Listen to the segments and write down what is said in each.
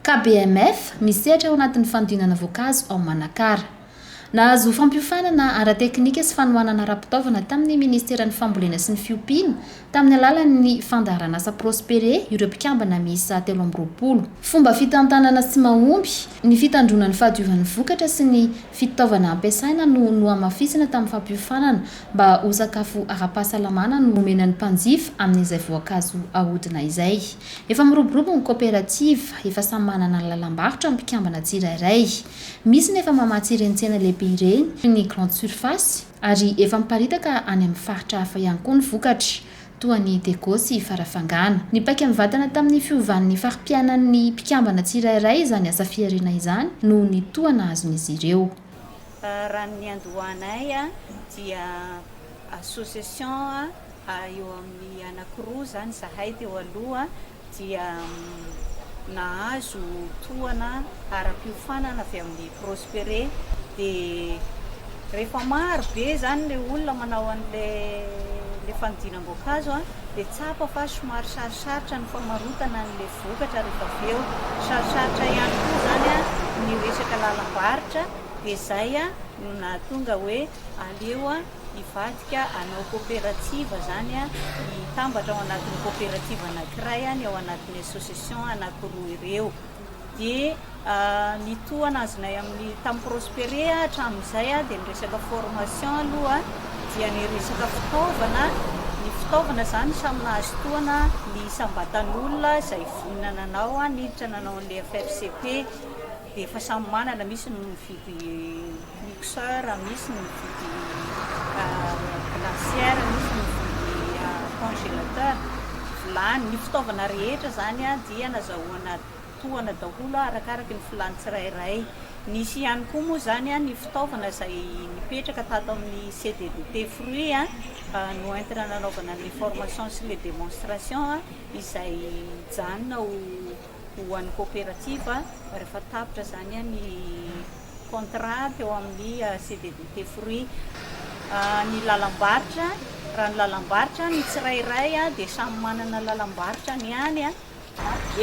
Ka BMF misehatra ao anatin'ny fanodinana voankazo ao Manakara. Nahazo fampiofanana ara-teknika sy fanohanana ara-pitaovana tamin'ny Ministeran'ny Fambolena sy ny Fiompiana tamin'ny alalan'ny fandaharanasa Prospere ireo mpikambana miisa telo amby roapolo. Fomba fitantanana tsy mahomby, ny fitandroana ny fahadiovan'ny vokatra sy ny fitaovana ampiasaina no nohamafisina tamin'ny fampiofanana mba ho sakafo ara-pahasalamana no omena ny mpanjifa amin'izay voankazo ahodina izay. Efa miroborobo ny koperativa, efa samy manana ny lalam-barotra ny mpikambana tsirairay. Misy ny efa mamatsy ireny tsena lehibe ireny toy ny grande surface, Ary efa miparitaka any amin'ny faritra hafa ihany koa ny vokatra, toa an'i Dego sy Farafangana. Nipaika mivantana tamin'ny fiovan'ny fari-piainan'ny mpikambana tsirairay izany asa fihariana izany noho ny toa nahazon'izy ireo. Raha ny niandohanay dia association eo amin'ny anankiroa izany izahay teo aloha. dia nahazo tohana ara-piofanana avy amin'i Prospere dia rehefa maro be izany ilay olona manao an'ilay fanodinam-boankazo dia tsapa fa somary sarosarotra ny famarotana an'ilay vokatra rehefa avy eo, sarosarotra ihany koa izany ny resaka lalam-barotra dia izay no nahatonga hoe aleo Hivadika hanao koperativa izany, hitambatra ao anatin'ny koperativa anankiray ny ao anatin'ny association anankiroa ireo. Dia ny tohana azonay amin'ny tamin'ny Prospere hatramin'izay dia ny resaka formation aloha dia ny resaka fitaovana, ny fitaovana izany samy nahazo tohana ny isam-batan'olona izay vonona nanao niditra nanao an'ilay FFCP dia efa samy manana, misy no mividy Mixa raha misy mividy glacière misy mividy congélateur vilany ny fitaovana rehetra zany a dia nazahoana tohana daholo a arakaraka ny filany tsirairay nisy ihany koa moa zany a ny fitaovana izay nipetraka tato amin'ny CDDT fruits a no entina nanaovana ny formation sy le démonstration a izay hijanona ho ho an'ny coopérative rehefa tapitra zany a ny contrat teo amin'ny CDDT fruits ny lalam-barotra raha ny lalam-barotra ny tsirairay dia samy manana lalam-barotra ny any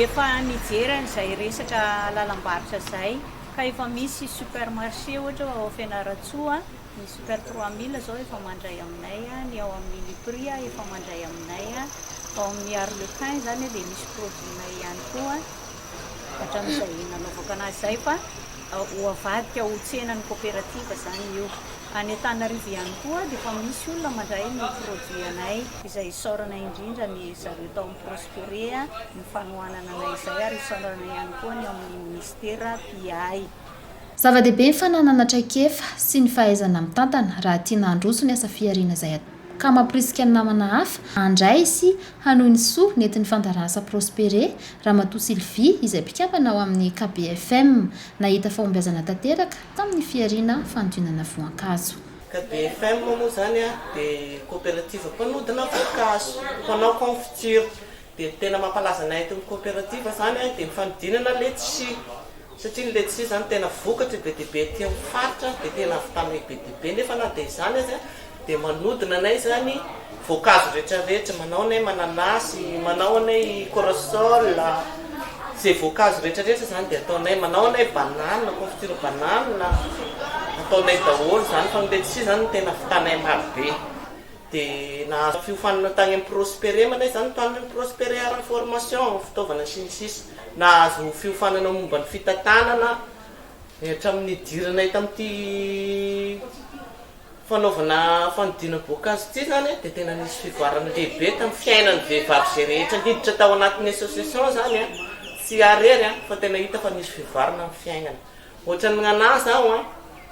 efa nijery an'izay resaka lalam-barotra izay ka efa misy supermarché ohatra ao Fianarantsoa Ny super trois mille zao efa mandray aminay, ny ao amin'ny Uniprix efa mandray aminay, ao amin'ny Arlequin zany dia misy produit-nay ihany koa hatramin'izay nanaovako anazy zay fa ho avadika ho tsenan'ny coopérative zany io. Any Antananarivo ihany koa dia efa misy olona mandray ny produit-nay. Izay isaorana indrindra ny zareo tao amin'ny Prospere ny fanohanana anay izay ary isaorana ihany koa ny ao amin'ny Ministera mpiahy. Zava-dehibe ny fananana traikefa sy ny fahaizana mitantana raha tiana handroso ny asa fihariana izay atao, ka mamporisika ny namana hafa handray sy hanohy ny soa nentin'ny fandaharan'asa Prospere, Ramatoa Sylvie, izay mpikambana ao amin'ny KBFM, nahita fahombiazana tanteraka tamin'ny fihariana fanodinana voankazo. KBFM moa izany dia koperativa mpanodina voankazo, mpanao confiture, dia ny tena mampalaza anay eto amin'ny koperativa izany dia ny fanodinana letchis. satria ny letisia izany tena vokatry be dia be aty amin'ny faritra dia tena havitanay be dia be nefa na dia izany aza dia manodina anay izany voankazo rehetra rehetra manao anay mananasy manao anay corosol izay voankazo rehetra rehetra izany dia ataonay manao anay banana confiture banana ataonay daholo izany fa ny letisia izany tena havitanay maro be Dia nahazo fiofanana tany amin'ny Prospere manaiza izany ny mpanompon'i Prospere ary ny formation amin'ny fitaovana sy ny sisa Nahazo fiofanana momba ny fitantanana ny hatramin'ny nidiranay tamin'ity fanaovana fanodinana boakazo ity izany dia tena nisy fivoarana lehibe tamin'ny fiainan'ny vehivavy izay rehetra niditra tao anatin'ny association izany tsy iary iry fa tena hita fa nisy fivoarana amin'ny fiainana Ohatran'ny mignanà zaho an!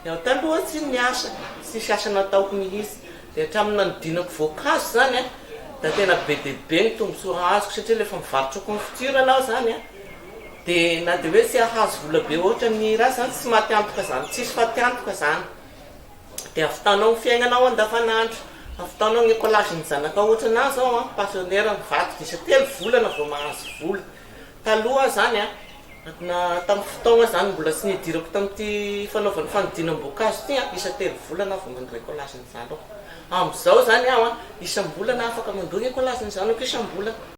Ny aho taloha tsy niasa, tsisy asa nataoko mihitsy. Dia hatramin'ny nanodinako voankazo izany an, dia tena be dia be ny tombontsoa azoko satria ilay efa mivarotra confiture aloha izany an, dia na dia hoe tsy hahazo vola be ohatran'ny hira aza izany tsy maty antoka izany, tsisy faty antoka izany. Dia havitanao ny fiainana ao andavanandro, havitanao ny écolage-n'ny zanakao. Ohatranà izao an, pensionnaire nivadika isa-telo volana vao mahazo vola. Taloha izany an, na tamin'ny fotoagna izany mbola tsy nidirako tamin'ity fanaovana fanodinam-boankazo ity an, isa telo volana aho vao mandoa écolage ny zanako. Amin'izao izany aho an, isam-bolana afaka mandoa ny écolage ny zanako isam-bolana.